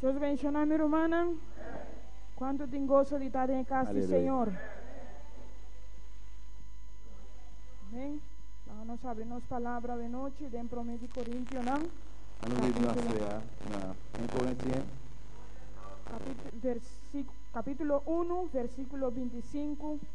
Dios benshona mi rumannan. Cuanto tin gozo di ta den e cas di Señor? Amén. Laga nos abri nos palabra de noche den prome di Corintianan. Ano read na sea na 1 Corintian. Capítulo 1, versículo 25.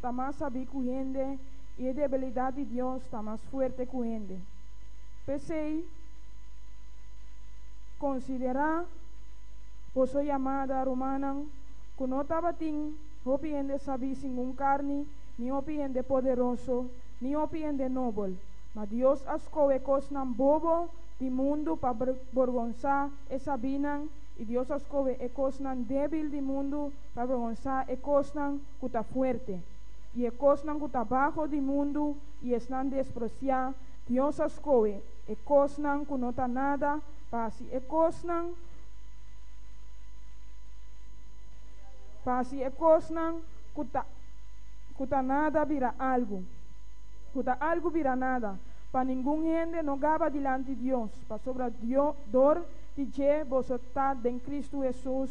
ta mas sabí ku hende i e debilidat di Dios ta mas fuerte ku hende. P'esei, konsiderá boso yamada, rumannan ku no tabatin hopi hende sabí singun karni, ni hopi hende poderoso, ni hopi hende nobel. Ma Dios a skohe kosnan bobo di mundu pa borgonsá e sabínan, i Dios a skohe e kosnan débil di mundu pa borgonsá e kosnan ku ta fuerte, i e kosnan ku ta baho di mundu i esnan despresiá, Dios a skohe e kosnan ku no ta nada pa hasi e kosnan, pa hasi e kosnan ku ta ku ta nada bira algu, ku ta algu bira nada, pa ningun hende no gaba dilanti Dios, pasobra Dio dor di dje boso ta den Kristu Hesus.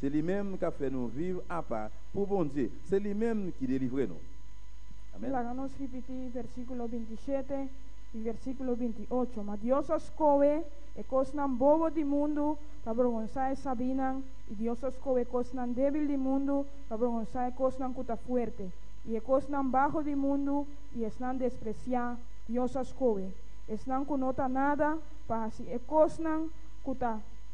Se li mem ka fé no viv apa p'u bon dje, se li mem ki de livr'é no. Amen. Laga nos ripití versíkulo binti shete i versíkulo binti ocho, Ma Dios a skohe e kosnan bobo di mundu pa brongonsá e sabinan, i Dios a skohe e kosnan débil di mundu pa brongonsá e kosnan ku ta fuerte, i e kosnan baho di mundu i esnan despresiá, Dios a skohe esnan ku no ta nada pa hasi e kosnan ku ta.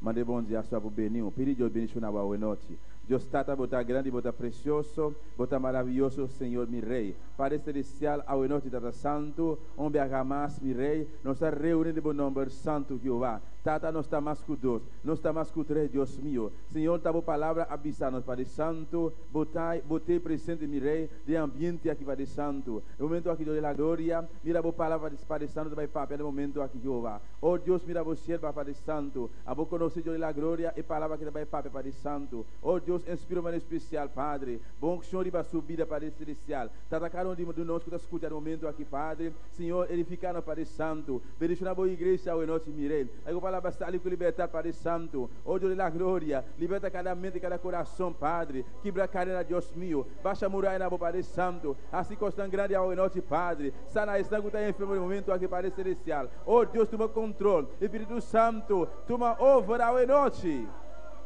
Manda e bon diaso abu beni. Un pidi Dios bendiciona bo awe nochi. Dios Tata, bo ta grandi, bo ta precioso, bo ta maraviyoso, Señor mi Rey. Pader Celestial, awe nochi, Tata Santu, un biaha mas, mi Rey, nos ta reuni den bo nomber santu, Jehowa. Tata, nos ta mas cu dos, nos ta mas cu tres, Dios mio. Señor, ta bo palabra a bisa nos, Pader Santu, bo ta, bo t'e presente, mi Rey, den ambiente aki, Pader Santu. Den momento aki, Dios de la Gloria, mira bo palabra, Pader Santu, ta bay papia den momento aki, Jehowa. O Dios, mira bo sierba pa di santu, abo conoce yo di la gloria e palabra que ta bay papia pa di santu. O Dios, enspiro manera especial, Padre, bo uncion riba su bida pa di celestial. Tata cada un di nos cu ta scucha den momento aki, Padre, Señor, edifica nos pa di santu. Bendiciona bo Iglesia awe nochi, mire, e bo palabra sali cu libertad pa di santu. O Dios di la gloria, liberta cada mente, cada corazon, Padre, kibra cadena, Dios mio, basha murayanan bo pa di santu, haci cosnan grandi awe nochi, Padre, sana esnan cu ta enfermo den momento aki, Padre celestial. O Dios tuma control. Espíritu Santo tuma over awe nochi.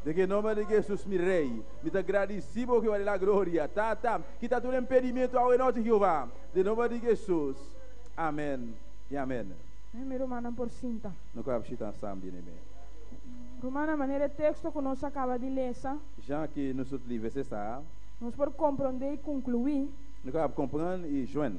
Den e nomber di Jesus mi Rey. Mi ta gradici bo Jehová di la Gloria. Tata, kita tur impedimento awe nochi Jehová. Den nomber di Jesus. Amen y amen. Amen mi rumannan por sinta. No caba shita asam bien e me. Rumannan manera e texto cu nos a caba di lesa. Jean ki nos tur live sesa. Nos por compronde y conclui. No caba comprend y join.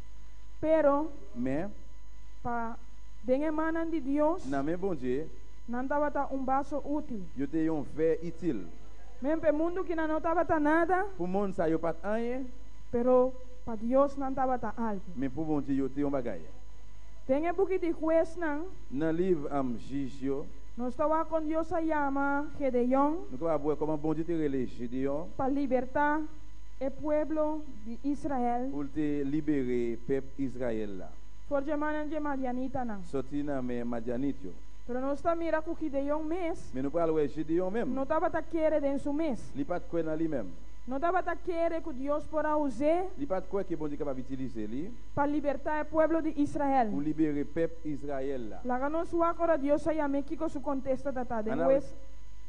Pero, Me. pa den e mannan di Dios, Na me bon dje. nan tabata un baso útil. Yo te yon fé itil. Men p'e mundu ki nan no tabata nada. Pu mon sa yo pat añe. Pero pa Dios nan tabata algu. Men pu bon dje yo te yon bagaye. Den e buki di Huesnan. Na liv am jij yo. Nos ta wak kon Dios a yama Gedeon. No ta wak abue koman bon dje te rele Gedeon. Pa libertá. e pueblo di Israel. Pul te liber'é pep Israel la. For dje mannan dje madianitanan. Soti na me madianitjo. Pero nos ta mira ku Gideon mes. Mi no por al wè Gideon mem. No tabata kere den su mes. Li pat kue na li mem. No tabata kere ku Dios por a us'é. Li pat kue ke Bondye kaba bitilis'é li. Pa libertá e pueblo di Israel. Pou liber'é pep Israel la. Laga nos wak ora Dios a yam'é kiko su kontesta ta ta. Den wes.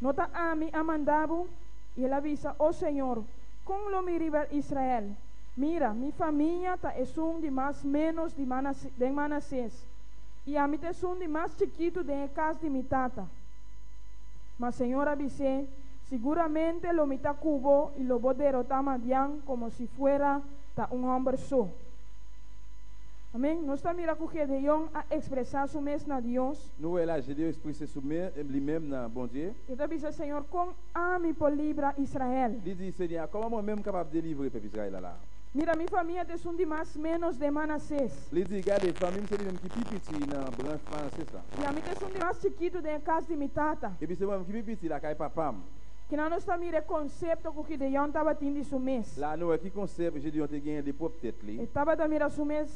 No ta ami a manda bo? I el a bisa, O señor, kon lo mi riba Israel? Mira, mi famia ta esun di mas ménos di Manase den Manasés, i ami ta esun di mas chikitu den e kas di mi tata. Ma señor a bis'é, Siguramente lo mi ta ku bo i lo bo derotá Madian komo si fuera ta un hòmber so. Amen. Nos ta mira ku Gedeon a ekspresá su mes na Dios. No wèl aji Deus pui se su mes, e bli mem na bon dje. E ta bisa, Señor, kon ami por libra Israel? Li di, Seña, kom amo mem kapab dje libre p'e Israel a la? Mira, mi famia at esun di mas ménos den Manasés. Li di, Gade, famim se di mem ki pi pichi na branch Manasés la. I ami ta esun di mas chikitu den e kas di mi tata. E bisa, Wam ki pi pichi la kai papam. Kinan nos ta mira e konsepto ku Gideon tabatin di su mes? La no wè ki konsepto Gideon te gen di e prop tet li. E tabata mira su mes.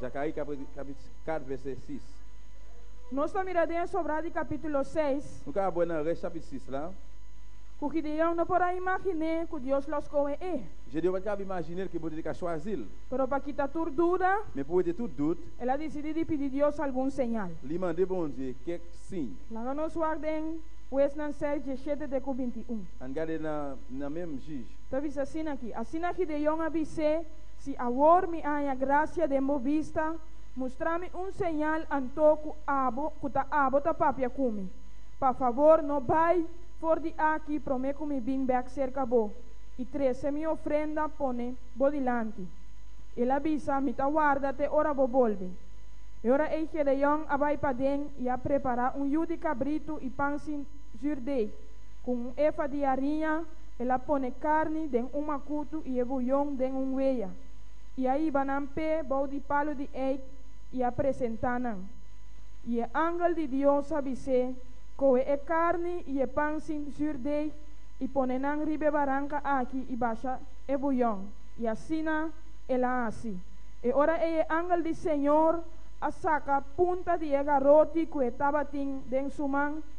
Zacarie capítulo 4 verset 6. Nos ta mira den Sobrá di capítulo 6. No ta abue na resh chapit 6 la. Cu Gideon no por a imaginé cu Dios lo scohe e. Gedeon a caba imaginé cu e borde di ca sua azil. Pero pa kita tur duda. Me pue te tur dud. El a dicidi di pidi Dios algun señal. Li mandé bonzie kek sin. Laga nos wak den Huesnan 6, diesshete te cu binti un. An gade na mem jij. Ta bisa asina aki. Asina Gideon a bisé. Si awor mi a haña gracia den bo bista, mustra mi un señal anto cu abo, cu ta abo ta papia cu mi. Pa favor no bai for di aki prome cu mi bin bek cerca bo y trece mi ofrenda pone bo dilanti. El a bisa, Mi ta warda te ora bo bolbe. E ora ei Gedeon a bai paden y a prepara un yu di cabrito y pan sin zuurdei. Ku un efa di ariña, el a pone karni den un makutu i e buyon den un weya, i a hiba nan p'e bou di palu di eik i a presentá nan. I e angel di Dios a bis'é, Kohe e karni i e pan sin zùrdeig i pone nan riba e baranka aki i basha e buyon. I asina el a hasi. E ora ei e angel di Señor a saka punta di e garoti ku e tabatin den su man,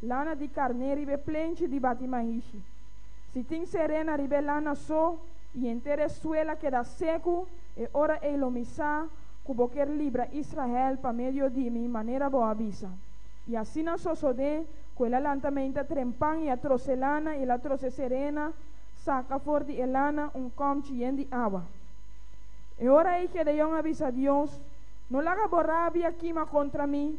lana di karné riba e plenchi di bati mahishi. Si tin serena riba e lana so i henter e suel a keda seku, e ora ei lo mi sa ku bo kier libra Israel pa medio di mi manera bo a bisa. I asina sosodé ku el a lanta meinta tren pan i a trose lana i el a trose serena, saka for di e lana un kòmchi yen di awa. E ora ei Gedeon a bisa Dios, No laga bo rabia kima kontra mi,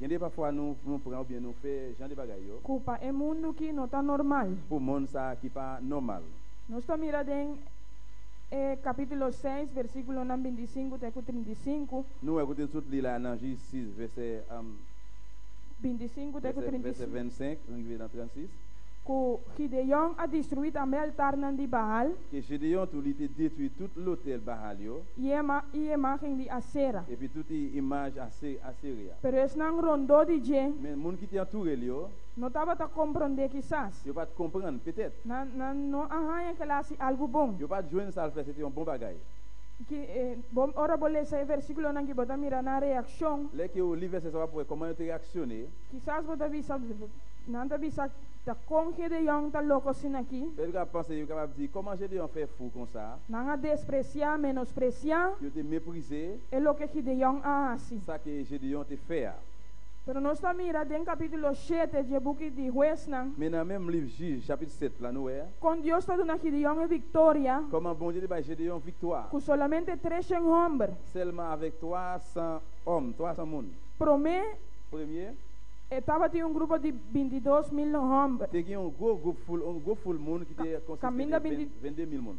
Jan de pa fua nu nu pran obien nu fe jan de bagay yo. Ku pa e mundu ki no ta normal. Ku mon sa ki pa normal. Nos ta mira den e kapítulo seis versíkulonan binti i sinku te ku trinta i sinku. Nu wè ku tin sut li la nan J sis vèsè binti i sinku te ku trinta i vèsè vènt senk riba nan trènt sis. Ku Gideon a destruí tambe altarnan di Baal. Ke Gedeon tu li te detruí tut lotèl Baal yo. I e imágen di Asera. Epi tut i imágen. Asiria. Pero esnan rondó di dje. Men mun ki tin aturelio. No tabata komprondé kisas. Yo pat komprand petet. Nan, nan no a haña kel hasi algu bon. Yo pat juens al fes e tin un bon bagai. Ki, e, bo, ora bo lesa e versíkulonan ki bo ta mira nan reakshon. Lei ki un lives esnan pa por e koman yo ta reakshoné. Kisas bo ta bisa, nan ta bisa, Ta kon Gedeon ta loko sin aki? Pedru ka pensa, yo kapab di, Koman Gedeon fe fu kon sa? Nan a despresiá, menospresiá. Yo te meprizé. E loke Gideon a hasi. Sa ki Gideon tin fe a. Pero nos ta mira den capítulo shete dje buki di Huesnan. Mi na mem lif Jij, chapit set, la nu wea. Con Dios ta duna Gideon e victoria. Con a bon dje di bai Gideon victua. Cu solamente treshen homber. Selma avek tua san om, tua san mun. Prome. Premye. E tabatin un grupo di bintidos mil homber. Te gin un gwo gup ful, un gwo ful mun ki te consis te de vende mil mun.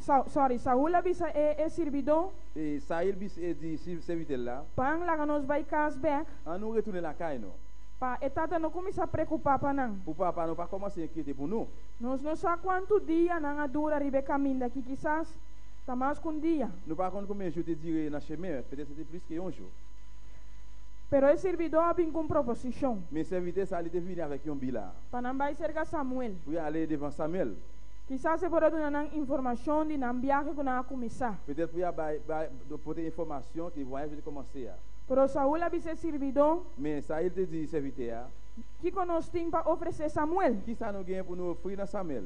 Sa, sorry, Saul a bisa e, e sirbidó. E Saul bis e di si servitel la. Pan, laga nos bai kas bèk. A no returné lakai no. Pa e tata no kuminsá prekupá pa nan. Ku papa no pa kòm asina e kete punu. Nos no sa kuantu dia nan a dura riba e kaminda aki, kisas ta mas ku un dia. No pa kon kume ju te djire na Shemé, p'e ta sinti plis ke yon ju. Pero e sirbidó a bin ku un proposishon. Mi servitel sali te vini avèk yon bila. Pa nan bai serka Samuel. Pui ale devan Samuel. Kisas e por a duna nan informashon di nan biahe ku nan a kuminsá. Peter pui a bai, bai, do por tin informashon ku e wai afia di komo asea. Pero Saul a bisa e sirbidó. Mesa el te disi afia tea. Kiko nos tin pa ofresé Samuel? Kisas no genia por no ofri na Samuel.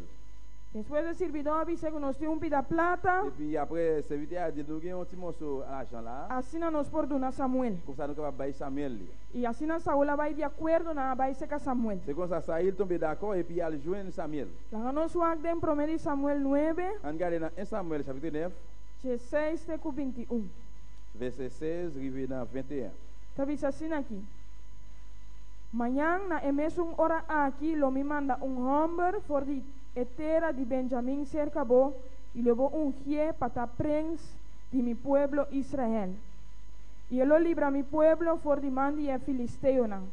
Despues e sirbidó a bisa ku nos tin un pida plata. E bin ya p'e sevi tea di el, No genia ochi moso alajan la. Asina nos por duna Samuel. Ku sa no kaba bai Samuel li. I asina Saul a bai di akuerdo, nan a bai seka Samuel. Segun sa Saul tambe dakó, e pia aljunen Samuel. Laga nos wak den promé di Samuel nuebe. Anca den na 1 Samuel shapitro nef. Dje seis te ku binti un. Vèsè seis riba na vente un. Ta bisa asina aki, Mañan na e mesun ora aki lo mi manda un hòmber for di e tera di Benjamin serka bo i lo bo ungié pa ta prins di mi pueblo Israel. I e lo libra mi pueblo for di man di e filisteonan.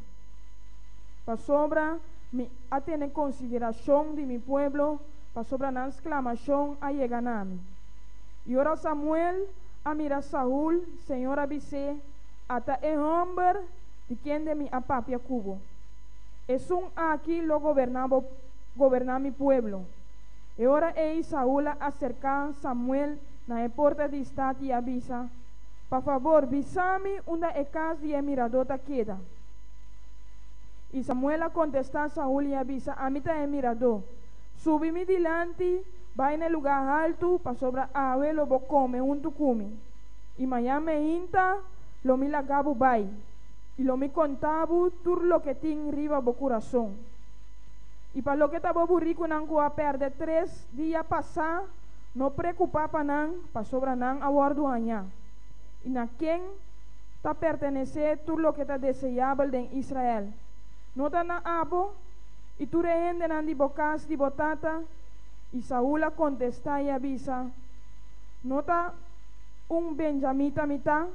Pasobra mi a tene konsiderashon di mi pueblo, pasobra nan sklamashon a yega na mi. I ora Samuel a mira Saul, Señor a bis'é, Ata e hòmber di kende mi a papia ku bo. Esun aki lo goberná bo, goberná mi pueblo. E ora ei Saul a aserká Samuel na e porta di stat i a bisa, Pa fabor, bisa mi unda e kas di e miradó ta keda. I Samuel a kontestá Saul i a bisa, Ami ta e miradó. Subi mi dilanti, bai na e lugá haltu, pasobra awe lo bo kome huntu ku mi. I mañan meinta lo mi laga bo bai, i lo mi konta bo tur loke tin riba bo kurason. I pa loke ta bo burikunan ku a pèrdè tres dia pasá, No preocupa pa nan, pasobra nan a wordo haña. Y na ken ta pertenece tur loke ta deseabel den Israel? No ta na abo y tur e hendenan di bo cas di bo tata? Y Saul a contesta y a bisa, No ta un benjamita mi ta,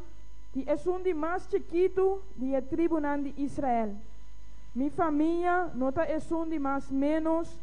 y esun di mas chikitu di e tribunan di Israel. Mi famia no ta esun di mas menos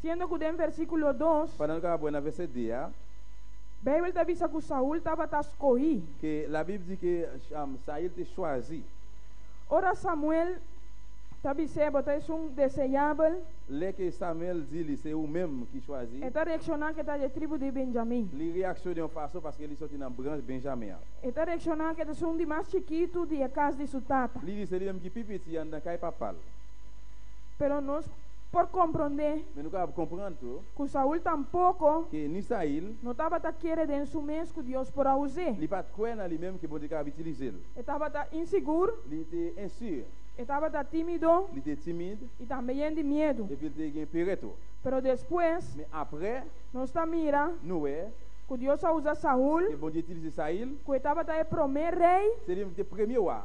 Siendo cu den versiculo dos. Pa nan caba buena vese dia. Bijbel ta bisa cu Saul tabata scohi. Ke la Bib di ke Sail te shuazi. Ora Samuel ta bis'é, Bo ta esun deseyabel. Le ke Samuel di li se u mem ki shuazi. E ta reacciona ke ta dje tribu di Benjamin. Li reaccione un paso paske li soti na branch Benjamin an. E ta reacciona ke t'esun di mas chikitu di e cas di su tata. Li di se li mem ki pi piti an ta kai papal. Pero nos por komprondé. Mi no kaba komprende tu. Ku Saul tampoko. Ke ni Sail. No tabata kere den su mes ku Dios por a us'é. Li pa kue na li mem ke Bondye kaba itiliz'el. E tabata insigur. Li te insur. E tabata timido. Li te timid. I tambe yen di miedu. Epi el te gen pereto. Pero despues. Mi apre. Nos ta mira. Noe. Ku Dios a usa Saul. Ke Bondye itilize Sail. Ku e tabata e promé rei. Seli mem ku te premye wa.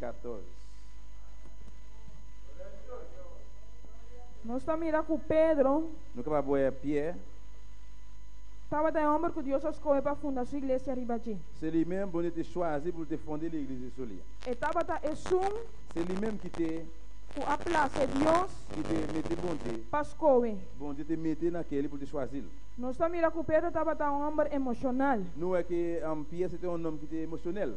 14. Nos ta mira ku Pedro. No kaba boe a pie. Tabata e hòmber ku Dios a skohe pa funda su iglesia riba dje. Seli men bonito i suazi pul te fonde li iglesia solia. E tabata esun. Seli men ki te. Ku a plase Dios. Ki te mete bonte. Pa skohe. Bonte te mete na keli pul te suazil. Nos ta mira ku Pedro tabata un hòmber emoshonal. No a ke a un pies i ten un nom ki te emoshonel.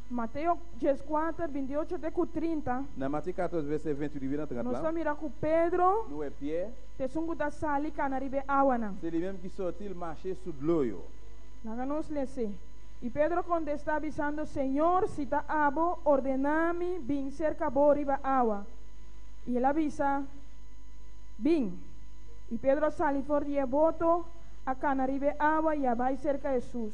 Mateo dies kuater bintiocho te ku trinta. Na Mateo kator verse venti i di bira trat Nos ta lan. mira ku Pedro No e pie. ta esun ku ta sali kana riba e awanan. Se li mem ki sortil mashe su dloyo. Laga nos lese. I Pedro kontesta bisando, Señor, si ta abo, ordena mi bin serka bo riba awa. I el a bisa, Bin. I Pedro a sali for di e boto, a kana riba e awa i a bai serka Hesus.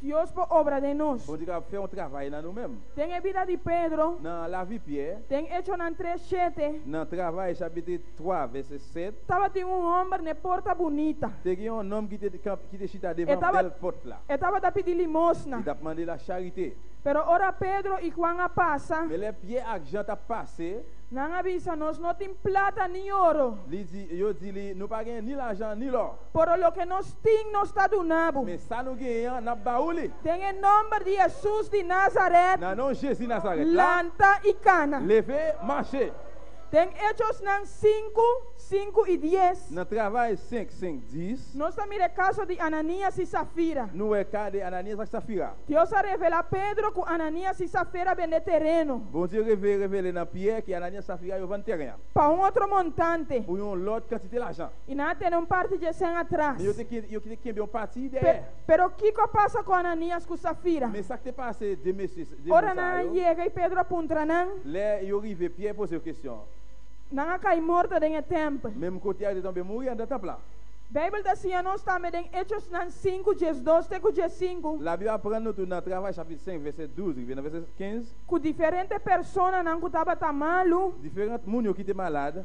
Dios por obra den nos. Bo diga, Fe un travay na nu mem. Den e bida di Pedro. Na lavi pie. Den Hechonan tres shete. Na travay shabit di twa veces set. Tabatin un homber n'e porta bunita. Tegi un nom ki te ki te shita devan bel port la. E tabata pidi limosna. I tap mande la sharite. Pero ora Pedro i Juan a pasa. Mele pie ak Jan ta pase. Nan a bisa, Nos no tin plata ni oro. Li di, yo di li, Nu pa gen ni lajan ni lor. Pero loke nos tin nos ta duna bo. Mesa no gueña na baul i. Den e nomber di Jesus di Nazaret. Na nom Jesus di Nazaret. Lanta i kana. Leve, mashe. Den Hechosnan sinku, sinku i dies. Na travay sink, sink dies. Nos ta mira e kaso di Ananias i Safira. No e ka di Ananias ak Safira. Dios a revela Pedro ku Ananias i Safera bende tereno. Bon Dios revele na Pier ki Ananias i Safira yo van terena. Pa un otro montante. Pu yon lot kantite lajan. I nan a tene un parti dje sen atras. Yo te kembe un parti dje e. Pero kiko a pasa ku Ananias ku Safira? Mesak te pasa e dje mes sa yo. Ora nan a yega i Pedro a puntra nan. Lè yo rive pia e pos yo kestion. Nan a kai morto den e tempel. Mem ku Tiago tambe muri anda tapla. Beibel ta siña nos tambe den Echosnan sinku djes dos te ku djes sinku. La Biblia a prende tur na Travay chapit seis vèsè dus riba na vèsè kens. Ku diferente personanan ku tabata malu. Diferent munio ki te malad.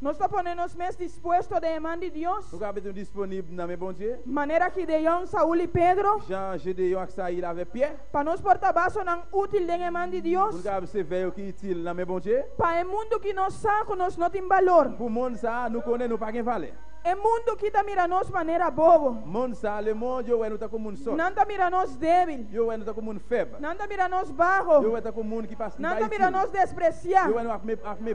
Nos ta pone nos mes dispuesto den e man di Dios. Nos a bini disponib na me bon dje. Manera Gideon, Saul i Pedro. Jan Gedeon a ksa i lavé pié. Pa nos por ta basonan útil den e man di Dios. Ku nos a bin sirv'é ku itil na me bon dje. Pa e mundu ki nos sa ku nos no tin balor. Ku mon sa nu kone nu pa ken vale. E mundu ki ta mira nos manera bobo. Mon sa le mon yo wè nu ta komo un sot. Nan ta mira nos débil. Yo wè nu ta komo un fèb. Nan ta mira nos baho. Yo wè ta komo un ki pas. Nan ta mira nos despresiá. Yo wè nu ak me.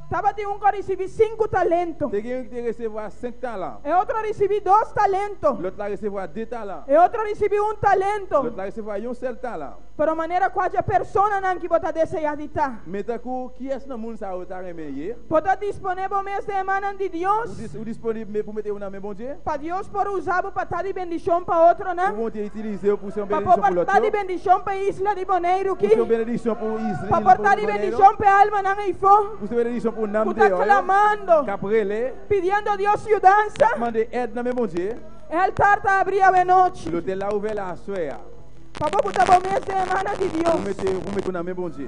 Tabatin un ku a risibí sinku talento. Te gen ku a reservá sèt talan. E otro a risibí dos talento. Lòt a reservá die talan. E otro a risibí un talento. Lòt a reservá yon sèl talan. Pero manera ku aja personanan ku bo ta deseá di ta. Meta ku ki esnan mun sa bo ta renmen ye? Bo ta disponé bo mes den e mannan di Dios? Si bo disponibel me pumete una me bon dje. Pa Dios por usa bo pa ta di bendishon pa otronan. Bo bon dje itilise bo pu ser un benedishon pa lo atro. Pa por ta di bendishon pa e isla di Boneiru ki. Pu ser un benedishon pa un isla di Boneiru. Pa por ta di bendishon pa e almanan eifo. Pu ser benedishon pa un nam dje oyo. Ku ta klamando. Kap rele. Pidiendo Dios yudansa. Kap mande ed na me bon dje. E altar ta abri awe nochi. Lo te lau vela aswea. Pa bo ku ta bo mes den e mana di Dios. Bo pumete una me bon dje.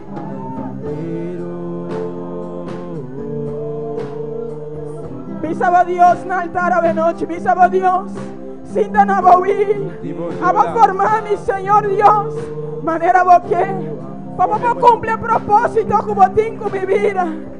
Bisa bo Dios na altar avenochi, bisa bo Dios, sinta na bo wi. A bo forma mi, Señor Dios, manera bo ke, pa bo por cumpli e propósito cu bo tin cu mi bida.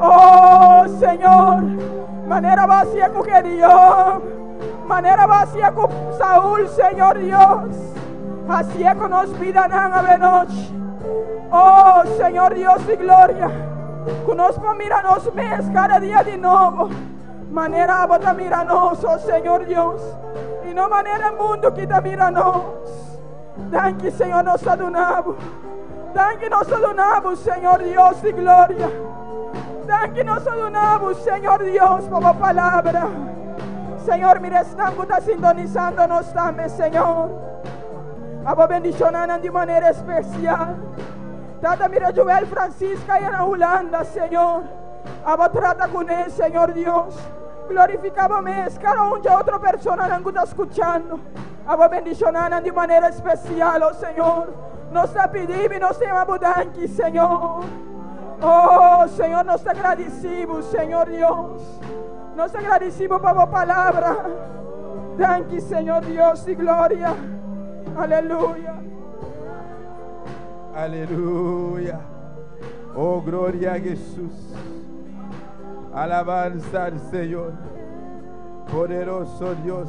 O Señor, manera Bo a hasié ku Gedeon, manera Bo a hasié ku Saul, Señor Dios, hasié ku nos bidanan avenochi. O Señor Dios di gloria, ku nos por mira nos mes kada dia di nobo, manera Bo ta mira nos, o Señor Dios, i no manera e mundu kita mira nos. Danki Señor nos ta dunabu. Danki nos ta dunabu Señor Dios di gloria. Danki nos ta dunabu Señor Dios pa bo palabra. Señor mira esnan ku ta sintonizando nos tambe Señor. A bo bendicionanan di manera especial. Tata mira Joel Francisca ya na Hulanda Señor. A bo trata kuné Señor Dios. Glorifica bo mes kada un di otro personanan ku ta scuchando. Abo bendishonanan di manera spesial, o Señor. Nos ta pidibo i nos ta yama Bo danki, Señor. O Señor, nos ta gradisí Bo, Señor Dios. Nos ta gradisí Bo pa Bo palabra. Danki, Señor Dios di gloria. Aleluya. Aleluya. O gloria a Jesus. Alabansa al Señor. Poderoso Dios.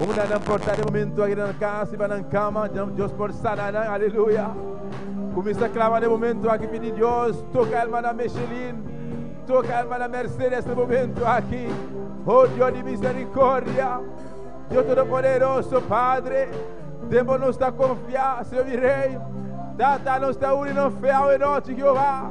Unda nan por ta den momentu aki den nan kas, riba nan kama, Dios por sana nan. Aleluya! Kuminsá klama den momentu aki, pidi Dios, toka hermana Michelin, toka hermana Mercedes den momentu aki. Oh Dios di misericordia, Dios Todopoderoso, Padre, den bo nos ta konfiá, Señor mi Rey. Tata, nos ta uni nos fe awe nochi, Jehová.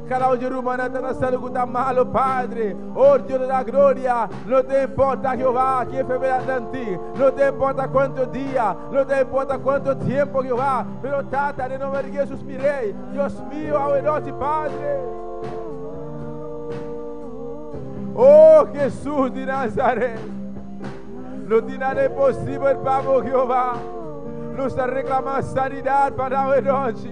Kada un di ruman a ta na salud ku ta malu, padre, or Dios lo da gloria. No ta importa Jehová ki enfermedad nan tin, no ta importa kuantu dia, no ta importa kuantu tiempu, Jehová, pero Tata, den nomber di Jesus, mi Rey, Dios mio, awe nochi, Padre. Oh, Jesus di Nazaret, no tin nada imposible pa bo, Jehová. Nos ta reclama sanidad pa nan awe nochi.